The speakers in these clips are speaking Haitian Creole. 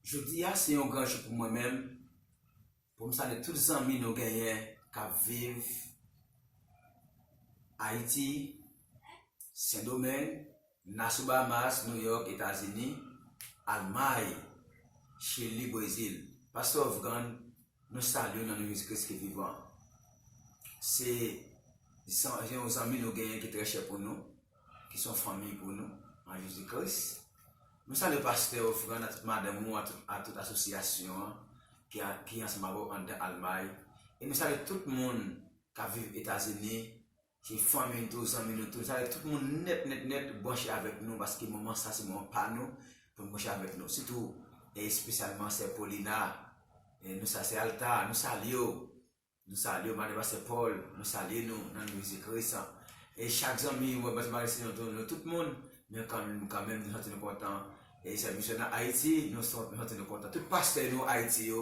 Jodi a se yon gran jou pou mwen menm pou m salye tout zanmi nou genyen k ap viv Ayiti, Sendomeng, Naso Bahamas, New York, Etazini, Almay, Chili, Brezil. Pastè Ofrand Nou salye w nan non Jezi Kris ki vivan an. Se yon zanmi nou genyen ki trè chè pou nou, ki se yon fanmi pou nou nan Jezi Kris. Nou salye pastè Ofrand ak tout madanm ou, ak tout asosyasyon an ki ansanm avè w anndan Almay. E nou salye tout moun k ap viv Etazini. Se fanmi n tou, zanmi nou tou. Sa vle di tout moun nèt nèt nèt branche avèk nou paske moman sa se moman pa nou pou n branche avèk nou. Sitou e espesyalman sè Paulina, nou sa sè Alta, nou salye w. Nou salye w madan pastè Paul, nou salye nou nan non Jezi Kris. E chak zanmi mwen, pastè Marisino tou, nou tout moun, men kan menm nou santi nou kontan. E sè misyon nan Ayiti, nou santi nou kontan. Tout pastè nou Ayiti yo,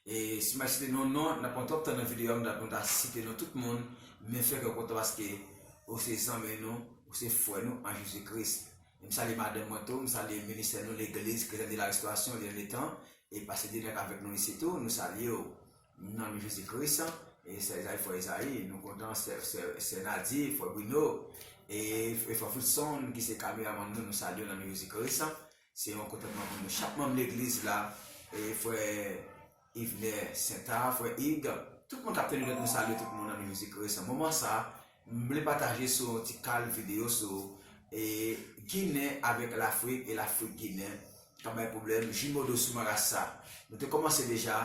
e si mwen site nou non, nan pran twòp tan nan videyo a, m ta kontan ta site nou tout moun, men fè kè w kontan paske ou se zanmi nou, ou se frè nou an Jezi Kris. E m salye madanm mwen tou, m salye ministè nou Legliz Kretyen de la Restorasyon, Lyann Etan, e pastè Dener k avèk nou isit tou, nou salye w. Nan non Jezi Kris, e sè Ezayi, frè Ezayi, nou kontan sè, sè, sè Nadye, frè Brino, e, e frè Fridson ki se kameramann nou, nou salye w nan non Jezi Kris. Se yon kontantman pou nou chak manm legliz la, e frè Ivner Sentard, frè Ig, tout moun k ap teni nou, nou salye tout moun nan non Jezi Kris. Moman sa a. M vle pataje sou yon ti kal video sou Ginen avèk Lafrik e Lafrik Ginen k ap bay pwoblèm, Jumeaux de sous marasa. Nou te kòmanse deja,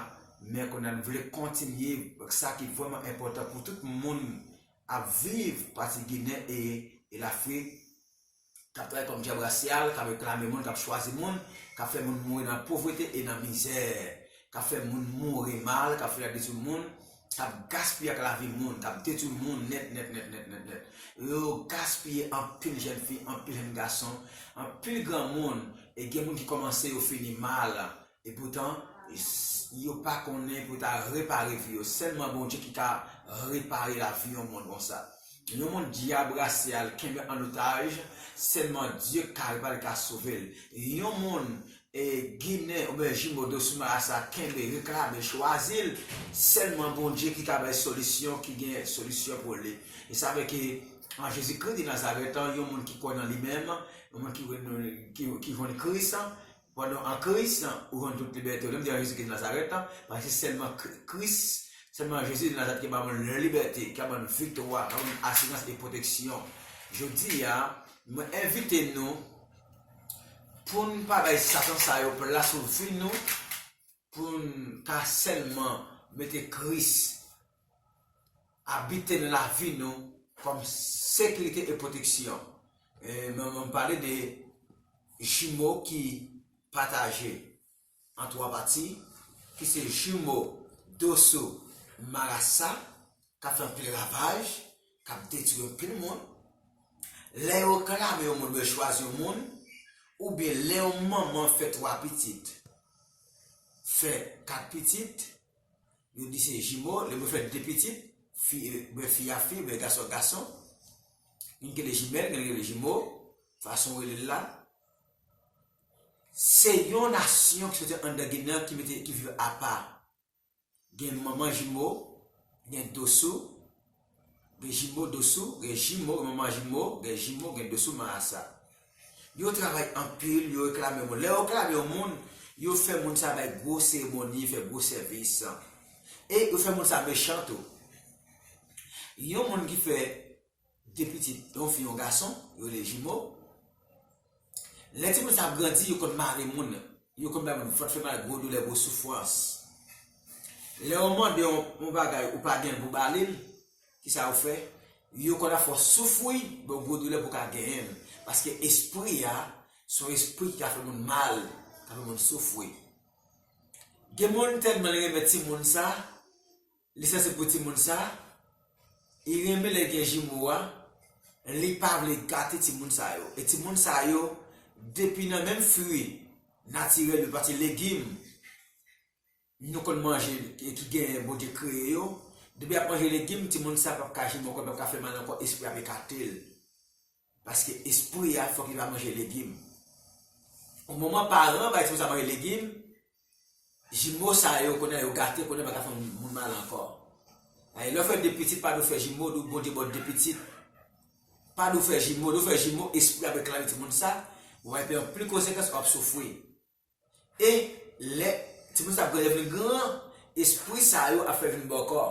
men kounye a n vle kontinye ak sa ki vrèman enpòtan pou tout moun ap viv pati Ginen e Lafrik. k ap travay kòm dyab rasyal, k ap reklame moun, k ap chwazi moun, k ap fè moun mouri nan povrete e nan mizè, k ap fè moun mouri mal, k ap fouye ak detwi moun, k ap gaspiye ak lavi moun, k ap detwi moun nèt nèt nèt nèt nèt nèt. Yo gaspiye anpil jèn fi, anpil jèn gason, anpil granmoun e gen moun ki kòmanse yo fini mal Epoutan yo pa konnen pou ta repare vi yo. Sèlman Bondye ki ka repare lavi yon moun konsa. Yon moun dyab rase al kenbe an otaj, sèlman Dye ka repare, ka sove l. Yon moun ginen oubyen jimodo sou mara sa kenbe, reklame, chwazi l, sèlman Bondye ki ka bay solisyon, ki gen solisyon pou li. E sa vle ke an Jezi Kri de Nazarèt, yon moun ki kwè nan li menm, yon moun ki vini Kris, Pandan an Kris lan ou jwenn tout libète ou, lè m di an Jezi Kris de Nazarèt lan, paske se sèlman Kris, sèlman Jezi de Nazarèt ki ba moun libète, ki ap ban nou viktwa, ki ap ban nou asirans e pwoteksyon. Jodi a, mwen envite nou pou n pa bay satan sa yo plas sou vi nou, Pou n ka sèlman mete Kris abite nan lavi nou kòm sekirite e pwoteksyon. Mwen m pale de jimo ki pataje an twa pati ki se jimo Dossou Marassa K ap fè anpil ravaj, k ap detwi anpil moun. Lè yo reklame yon moun oubyen chwazi yon moun, oubyen lè yon manman fè twa pitit, fè kat pitit, yo di se jimo, lè moun fè de pitit, fi oubyen fi a fi oubyen gason a gason, youn ki rele jimèl, youn ki rele jimo, fason yo rele l la. Se yon nasyon ki soti anndan Ginen an ki mete, ki viv apa. Gen manman jimo, gen dosou, gen jimo dosou, gen jimo gen manman jimo, gen jimo gen dosou marasa. Yo travay anpil, yo reklame yon moun. Lè yo reklame yon moun, yo fè moun sa bay gwo seremoni, fè gwo sèvis. E yo fè moun sa mechan tou. Yon moun ki fè. 2 pitit, yon fi yon gason, yo rele jimo. Lè timoun sa ap grandi, yo konn mare moun, yo konn bay moun vant fè mal, gwo doulè, gwo soufrans. Lè yo mande yon bagay ou pa genyen pou ba li l, ki sa yo fè? Yo konn ap fè w soufri, ba w gwo doulè pou w ka genyen l. Paske espri a, se yon espri ki ka fè moun mal, ka fè moun soufri. Gen moun tèlman li renmen timoun sa, Li sanse pou timoun sa, li renmen lè gen jimo a, li pa vle gate timoun sa yo. E timoun sa yo depi nan menm fwi natirèl yo pati legim nou konn manje ki genyen Bondye kreye yo, depi yap manje legim timoun sa pap ka jimo ankò, li pap ka fè mal ankò, espri a ap ekate l. Paske espri a fòk li va manje legim. O moman paran ba espri sa manje legim, jimo sa yo kounye a yo gate kounye a yo pa ka fè moun mal ankò. Paske lè ou fè 2 pitit pa dwe fè jimo di ou Bondye ba w 2 pitit. Pa dwe fè jimo, lè ou fè jimo espri a reklame timoun sa, ou va rive pran anpil konsekans, ou ap soufri. E lè ti moun sa ap grandè vin gran, espri sa yo ap fè l vin bòkò.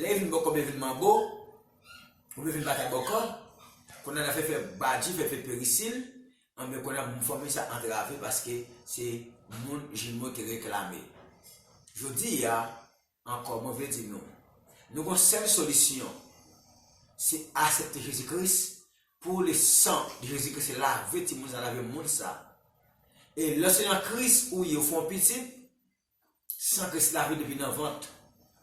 Lè vin bòkò oubyen vin manbo, oubyen vin batay bòkò, kounye a nan fè fè badji, fè fè perisil, anben kounye a fanmi sa antrave paske se moun jimo te reklame. Jodi a. Ankò, mwen vle di nou, nou gon sèl solisyon, se asepte Jezi Kris, pou le san de Jezi Kris se lave timoun sa, lave moun sa. E lè se nan Kris ou ye ou fè yon pitit, san Kris lave depi nan vant,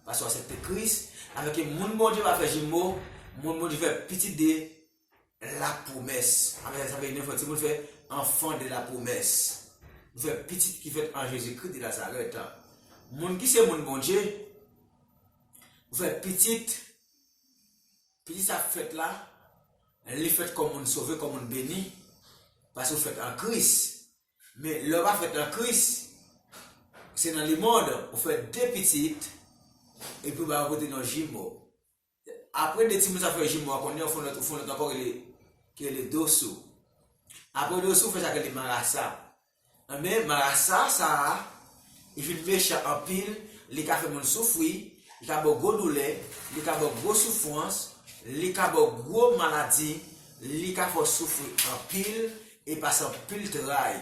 paske ou asepte Kris, afin ke moun Bondye pa fè jimo, moun Bondye fè pitit de la pwomès. Apre sa, sa vle di nou fè timoun fè anfan de la pwomès. Nou fè pitit ki fèt an Jezikri de Nazarèt. Moun ki se moun Bondye, nou fè pitit, pitit sa k fèt la, li fèt kòm moun sove, kòm moun beni, paske ou fèt an Kris. Men, lè ou pa fèt an Kris, se nan lemond, ou fè de pitit, epi ou ba yo pote non jimo. Apre 2 timoun sa fè jimo a kounye a ou fè yon lòt ou fè yon lòt ankò rele ki rele dosou. Apre dosou ou fè sa ki rele marasa. Enben marasa sa a li fin mechan anpil, li ka fè moun soufri, li ka ba w gwo doulè, li ka ba w gwo soufrans, li ka ba w gwo maladi, li ka fè w soufri anpil e pase anpil tray.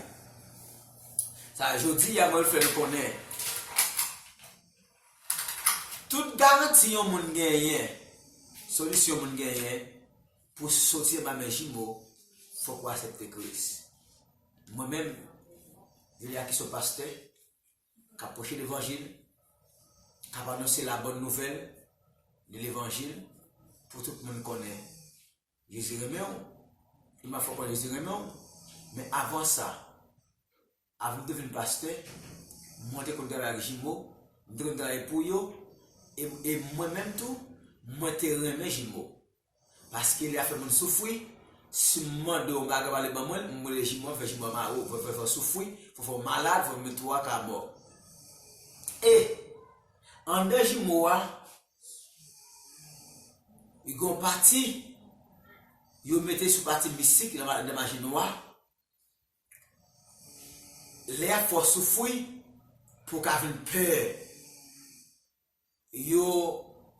Sa jodi a mwen vle fè nou konnen. Tout garanti yon moun genyen, solisyon moun genyen pou soti anba men jimo, fòk ou asepte Kris. Mwen menm, Julia ki son pastè, k ap preche levanjil, k ap anonse labòn nouvèl de levanjil pou tout moun konnen Jezi renmen ou, li m ap fè w konnen Jezi renmen ou, men avan sa, Avan m te vin pastè, mwen te konn travay ak jimo, m te konn travay pou yo, e mwen menm tou, mwen te renmen jimo. Paske li ap fè moun soufri, si m mande yon bagay wale ban mwen l, m rele jimo, fè jimo mare w, fè w soufri, fè w fè w malad, fè w mete w aka mò. E, anndan jimo a, gen yon pati, yo mete sou pati mistik, anndan maji nwa, Lè yap fè w soufri pou w ka vin pè. Yo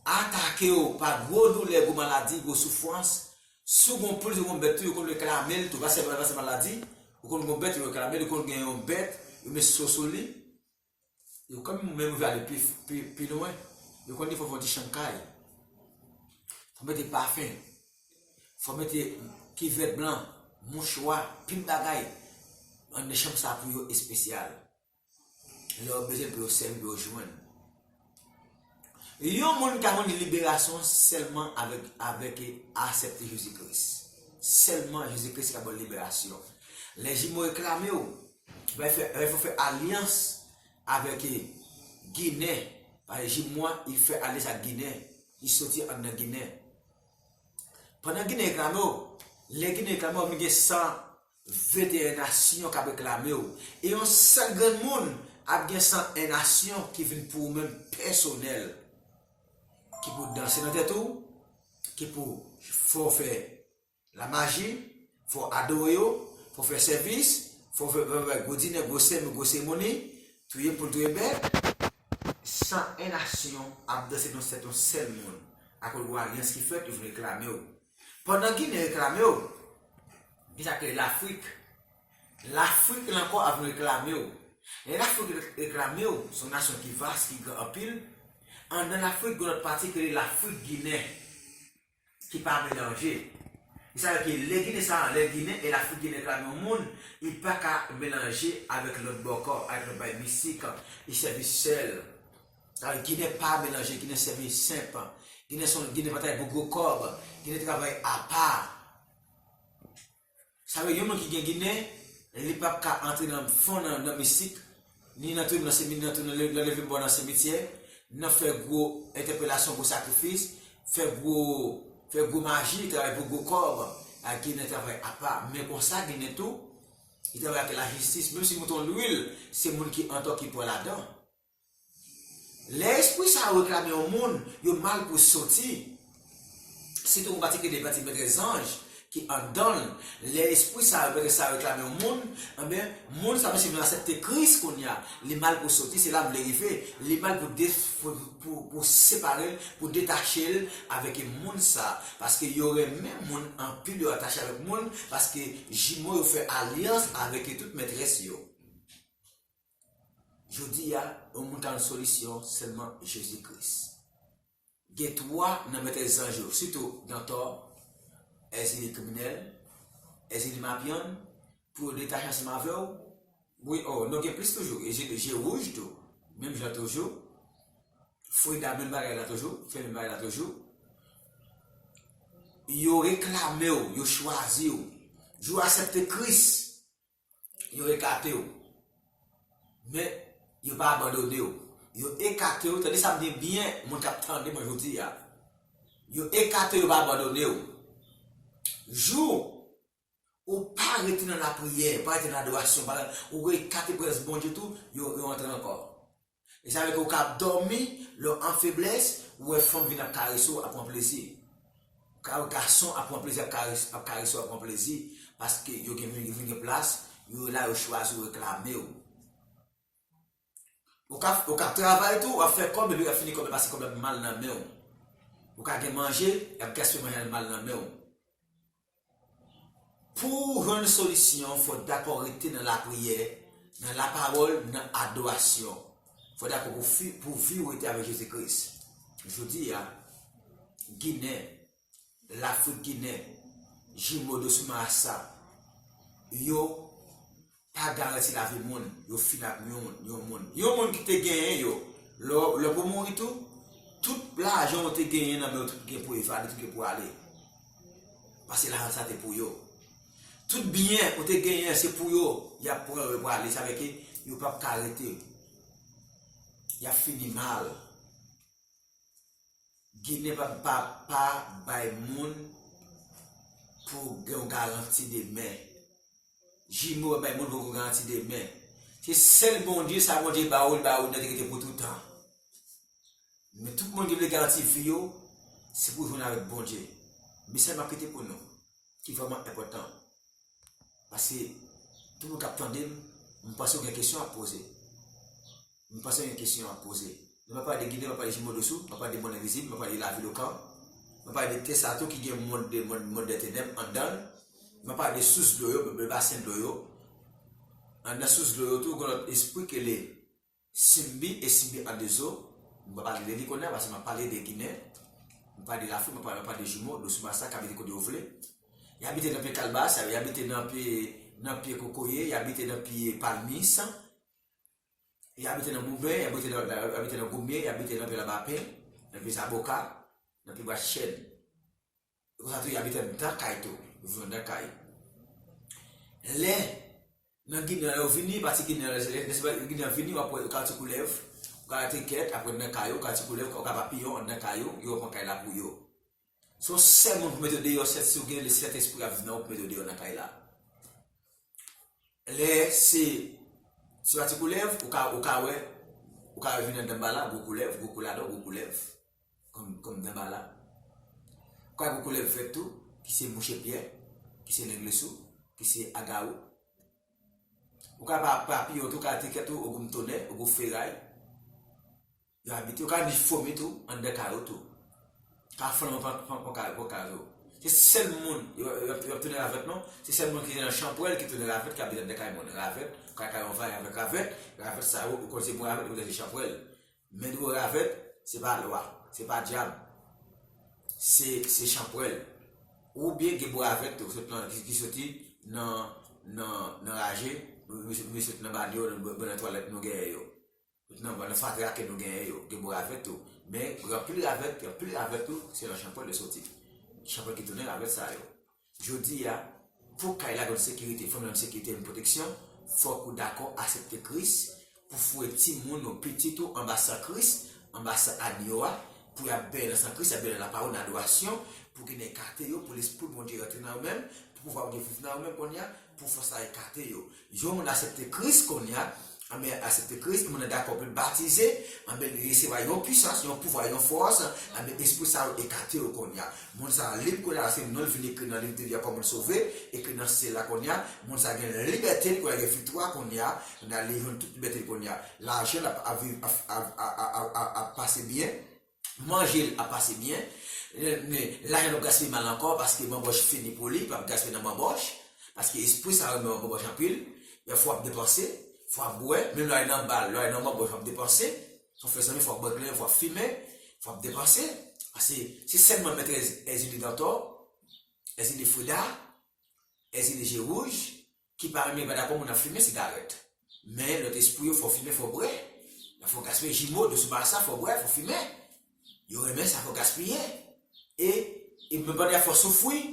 atake w pa gwo doulè, gwo maladi, gwo soufrans. Si w gon poul, si w gon bèt tou, yo konn reklame l tou. Pa sèlman se maladi, yo konn gon bèt yo reklame l, yo konn gen yon bèt yo met so sou li. Yo konn menm rive ale pi lwen. Yo konn defo fè yon ti chan kay. Fò mete pafen. Fò mete kivèt blan, mouchwa, pil bagay. Anndan chanm sa pou yo espesyal. Lè yo bezwen pou yo sèvi pou yo jwenn. Yon moun ka jwenn liberasyon sèlman avèk e asèpte Jezi Kris. Sèlman Jezi Kris ka bann liberasyon. Lè jimo reklame ou, lè fè fè alyans avèk e ginen, pale jimo a, li fè alyans ak ginen, li soti andan ginen. Pandan ginen reklame ou, lè ginen reklame ou, ou vin gen san 21 nasyon k ap reklame w, e yon sèl grenn moun ap gen 101 nasyon ki vin pou ou menm pèsonèl, ki pou danse nan tèt ou, ki pou fè w fè lamaji, fè w adore yo, fè w fè sèvis, fè w fè bay gwo dinè, gwo sèmou, gwo seremoni, touye poul, touye bèt. 101 nasyon ap danse nan tèt yon sèl moun, akoz gwo alyans ki fèt, yo vin reklame w. Pandan Ginen reklame w, ki sa ke Lafrik, Lafrik lan kò ap reklame w? Lè Lafrik reklame w, se yon nasyon ki vas, ki gran anpil, anndan Lafrik gen yon lòt pati ki rele Lafrik Ginen, ki pa melanje. Ki sa vle di, lè Ginen sa, lè Ginen e Lafrik Ginen reklame yon moun, li pa ka melanje avèk lòt bò kò, avèk lòt bay mistik, li sèvi sèl Al ginen pa melanje ginen sèvi senp ginen son ginen batay pou gwo kòb ginen travay apa sa vle yon moun ki gen ginen li pap ka antre nan fon nan mistik ni nan tounen nan semi nan tounen nan leve mò nan semityè nan fè gwo entèpelasyon gwo sakrifis fè gwo fè gwo maji travay pou gwo kòb a ginen travay apa men konsa ginen tou li travay ak lajistis menm si mouton lwil se moun ki antò ki pò ladan. Lè espri sa yo reklame yon moun, yo mal pou soti. Sitou an patikilye pati mètrès zanj ki anndan l. Lè espri sa yo, mètrès sa yo reklame yon moun, enben, moun sa yo menmsi l vin asepte Kris kounye a, li mal pou soti, se la m vle rive, li mal pou de, pou separe l, pou detache l avèk e moun sa. Paske yo renmen moun anpil, yo atache avèk moun, paske jimo yo fè alyans avèk e tout mètrès yo. Jodi a, yon moun ka yon solisyon sèlman Jezi Kris. Gen 3 nan mètrès zanj yo, sitou Dantò, Èzili kriminèl, Èzili mapyann, pou yo detache ansanm avè w, wi o, non gen plis toujou, Je wouj tou, menm jan toujou, Freda menm bagay la toujou, fè menm bagay la toujou, yo reklame w, yo chwazi w, jou asèpte Kris. yo ekate w, men yo pa abandone w. Yo ekate w, tande sa m di byen, moun kap tande mwen jodi a. Yo ekate w, yo pa abandone w. Jou ou pa rete nan lapriyè, pa rete nan adorasyon, ou ekate prezans Bondye tou, yo antre ankò. E sa vle ke ou ka ap dòmi lè w an feblès, ou wè fanm vin ap karese w, ap pran plezi. Ou ka wè gason ap pran plezi ap karese w, ap pran plezi, paske yo gen yo vin gen plas, yo la yo chwazi w, reklame w. Ou ka ou ka ap travay tou, wap fè kòb epi wap fini kòb la pase kòb la ap mal nan men w. Ou ka gen manje, yap gaspiye manje a li mal nan men w. Pou w jwenn solisyon, fò w dakò rete nan lapriyè, nan lapawòl, nan adorasyon. Fò w dakò pou vi w rete avèk Jezi Kris. Jodi a, Ginen, Lafrik Ginen, Jimo Dosuma Assa, yo. pa garanti lavi moun, yo fini ak yon moun. Yon moun ki te genyen yo, lè pou mouri tou, tout lajan yo te genyen nan men yo tout gen pou evade, tout gen pou ale. Pase lajan sa te pou yo. Tout byen yo te genyen se pou yo, ya pran yo pou ale, sa veke yo pap ka rete. Ya fini mal. Ginen pa pa pa bay moun pou gen yon garanti demen. Jimo bay moun poko garanti demen. Se sèl Bondye sa Bondye ba ou li ba ou li nan degete pou toutan. Men tout moun ki vle garanti vi yo se pou jwenn avèk Bondye. Mesaj map kite pou nou ki vrèman enpòtan. Pase tout moun kap tandem m panse ou gen kesyon wap poze. M panse yon kesyon ap poze. Lè m ap pale de Ginen, m ap pale de Jimo Dosou, m ap pale de Mòn Envizib, m ap pale de Lavil Okan, m ap pale de tè sa tou ki gen mond de mond, mond dè tenèb anndan l, m ap pale de sous dlo yo, de basen dlo yo. Anndan sous dlo yo tou gen yon lòt espri ki rele Simbi e Simbi an de zo. M pa pale de li kounye a paske m ap pale de Ginen, m pale de Lafrik, m ap pale de Jimo, Dosou Bassa k abite kote yo vle. Y abite nan pye kalbas, y abite nan pye kokoye, y abite nan pye palmis. Y abite nan Gouben, y abite nan Gomye, y abite nan Vèlabapen, nan Vye Zaboka, nan Pibwa Chèn. E konsa tou y abite anndan kay tou, yo viv anndan kay. Lè nan Ginen an yo vini, pati Ginen an, lè nan Ginen an vini, w ap wè yo ka ti koulèv, w ka ti kèt, apre nan kay yo, w ka ti koulèv, w ka papiyon anndan kay yo, yo pran kay la pou yo. Se yon sèl moun pou mete w deyò sèt si w gen le sèt espri ap di nan ou pou mete w deyò nan kay la lè se se pa ti koulèv ou ka ou ka wè ou ka wè vin nan danbala gwo koulèv gwo kouladò gwo koulèv kòm kòm danbala ou ka wè gwo koulèv vèt tou ki se mouche pyè ki se lenglesou ki se agawou ou ka pa papiyon tou ka te kèt ou ogou mtonè ogou feray. Yo abite, yo ka vin fome tou anndan kay ou tou. Ka fome pou kay pou kay ou. Se sèl moun yo ap tounen ravèt non, se sèl moun ki nan chanpwèl ki tounen ravèt ki abite anndan kay moun. Ravèt, kay kay yon vanyan avèk ravèt, ravèt sa yo ou konn se moun ravèt ou konn se chanpwèl. Men dou ravèt, se pa lwa, se pa dyab. Se chanpwèl. Ou byen gen moun ravèt tou sot nan ki soti nan nan raje, ou byen soti nan banyo, ou byen nan twalèt nou genyen yo. Tout nan vwa nan fatra ke nou genyen yo gen bon ravèt tou, men gen anpil ravèt, gen anpil ravèt tou se nan chanpwèl yo soti. Chanpwèl ki tounen ravèt sa yo. Jodi a, pou kay la jwenn sekirite, fanmi la jwenn sekirite, jwenn pwoteksyon, fòk ou dakò asepte Kris, pou foure timoun ou, pitit ou anba san Kris, anba san Agno a, pou y ap benyen nan san Kris, y ap benyen nan lapawòl, nan adorasyon, pou ginen ekate yo, pou Lespri Bondye rantre nan yo menm, pou pouvwa Bondye viv nan yo menm kounye a, pou fòs la ekate yo. Yon moun asepte Kris konnya, anben asepte Kris, moun nan dakò pou l batize, anben li resevwa yon pwisans, yon pouvwa, yon fòs, anben espri sa yo ekate yo konnya. Moun sa a lib konnya laske non l vin ekri nan liv de vi a kòm moun sove, ekri nan syèl la konnya, moun sa a gen libète l konnya, gen viktwa konnya, konnya li jwenn tout libète l konnya. Lajan l ap viv ap pase byen. manje l ap pase byen men lajan l ap gaspiye mal ankò paske banbòch fini pou li, l ap gaspiye nan banbòch paske espri sa renmen banbòch anpil yon fwa w ap depanse, fwa w ap bwè menm lè w ale nan bal, lè w ale nan banbòch w ap depanse ou fè zanmi fwa w ap bwè kleren, fwa w ap fimen fwa w ap depanse paske se sèlman mètrès Èzili Dantò Èzili Frida Èzili Je Wouj Ki pa renmen yo pa dakò moun ap fimen sigarèt. Men lòt espri yo fò fimen fò bwè. Nan fò gaspiye jimo doso marasa fò bwè fò fimen. Yo renmen sa fò gaspiye. E e menm pandan y ap fè w soufwi.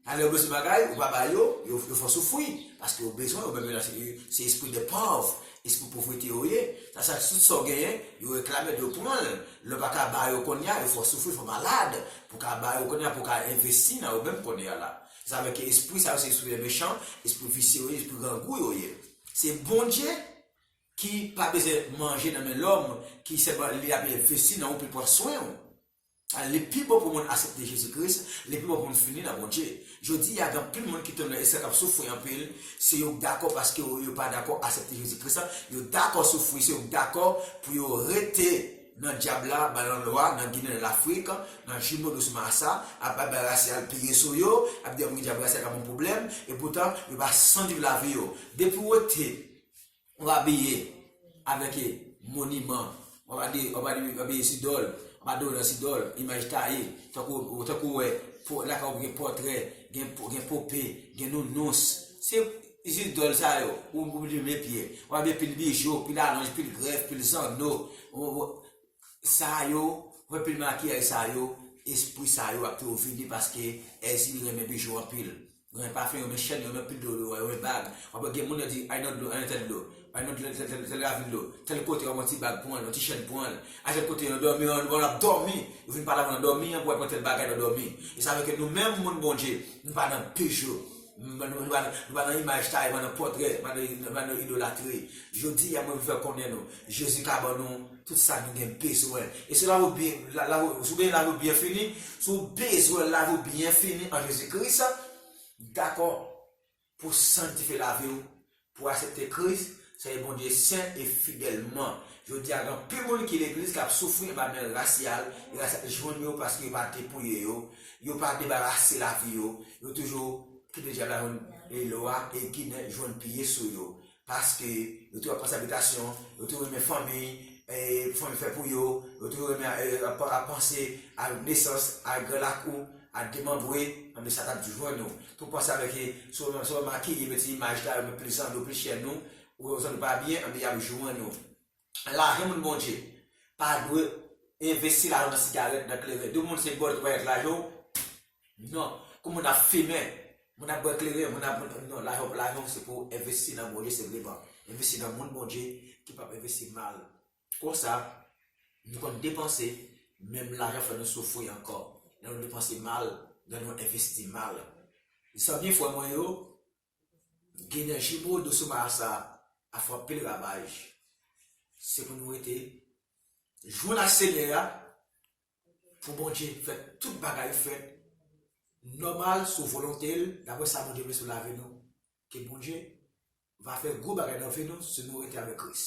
Sa lè yo bezwen bagay ou pa ba yo, yo yo fè w soufwi. Paske yo bezwen yo menm yo nan se yo se espri de pòv. Espri povrete yo ye. Sa sa tout sa w genyen yo reklame l yo pran l. Lè w pa ka ba yo konnya yo fè w soufri fè w malad. Pou w ka ba yo konnya pou w ka envesti nan yo menm konnya la. Sa vle ke espri sa yo se espri lè mechan, espri visye yo ye, espri grangou yo ye. Se Bondye ki pa bezwen manje nan men lòm, ki sèlman li ap envesti nan ou pou l pran swen ou. A li pi bon pou moun asepte Jezi Kris, li pi bon pou moun fini nan Bondye. Jodi a gen anpil moun ki tonbe nan esklav k ap soufri anpil, se yo k dakò paske yo yo pa dakò asepte Jezi Kris la, yo dakò soufri, se yo k dakò pou yo rete. Nan dyab la, ban lan lwa, nan ginen nan lafrik, nan jimo dous massa, ap ap bay rasyal peye sou yo, ap di anmweyy dyab rasyal ka bon pwoblèm, e poutan yo pa san viv lavi yo. Depiw wete, wap abiye avèk e moniman, wap ade wap ade wap abiye zidòl, wap adore nan zidòl, imaj taye, tankou ou tankou wè lakay ou gen pòtrè, gen gen pope, gen nounous, se. Izin dòl sa yo, ou oblije mete pye. Wap gen pil bijou, pil alonj, pil grèf, pil zanno. Sa yo, wap gen pil makiyaj sa yo, espri sa yo ap tou vini paske Èzili renmen bijou anpil. Yo renmen pafen, yo renmen chèn, yo renmen anpil doryo, yo renmen bag. Wap wè gen moun yo di al nan dlo, al nan tèl dlo, al nan tèl ravin dlo, tèl kote wap wè yon ti bag pran l, yon ti chèn pran l. Al tèl kote nan dòmi, pandan wap dòmi, yo vin pale avèw nan dòmi an pou al pran tèl bagay nan dòmi. E sa vle ke nou menm moun Bondye, nou pa nan bijou. Nou pa nan imaj taye men nan pòtrè, nou pa nan idolatri. Jodi a mwen vle fè konnen nou, Jezi ka ban nou tout sa nou gen bezwen. E si lavi w gen lavi w byen fini, si w bezwen lavi w byen fini an Jezi Kris, dakò pou w sangtifye lavi w Pou asepte Kris, sèvi Bondye sen e fidèlman. Jodi a gen anpil moun ki legliz k ap soufri anba nèl rasyal e rasyal te jwenn yo paske yo pa depouye yo, yo pa debarase lavi yo, yo toujou kite dyab la jwenn e lò a e ginen jwenn piye sou yo. Paske yo toujou ap panse abitasyon, yo toujou renmen fanmi e pou fanmi fè pou yo, yo toujou renmen ap panse a nesans, a gran lakou. Al demanbre anbe sa tap jwenn ou. Tou panse avek e sou wè maki e mete imaj la yo met plis zanmi yo plis chè nou ou wè zanmi pa byen anbe yap jwenn ou. Lajan moun Bondye pa dwe envesti lajan nan sigarèt nan kleren di moun se bòl ki pral ak lajan w non kou moun ap fimen moun ap bwè kleren moun ap non lajan w se pou envesti nan Bondye se vre ban envesti nan moun Bondye ki pap envesti mal. Konsa, nou konn depanse, menm lajan fè nou soufri ankò, lè nou depanse mal, lè nou envesti mal. Zanmi frè mwen yo, Ginen Jibo Doso Marasa a fè anpil ravaj. Se pou nou rete jwenn ak Senyè a, pou Bondye fè tout bagay fèt nòmal sou volonte l, daprè sa Bondye vle sou lavi nou. Ke Bondye Va fè gwo bagay nan vi nou si nou rete avèk Kris.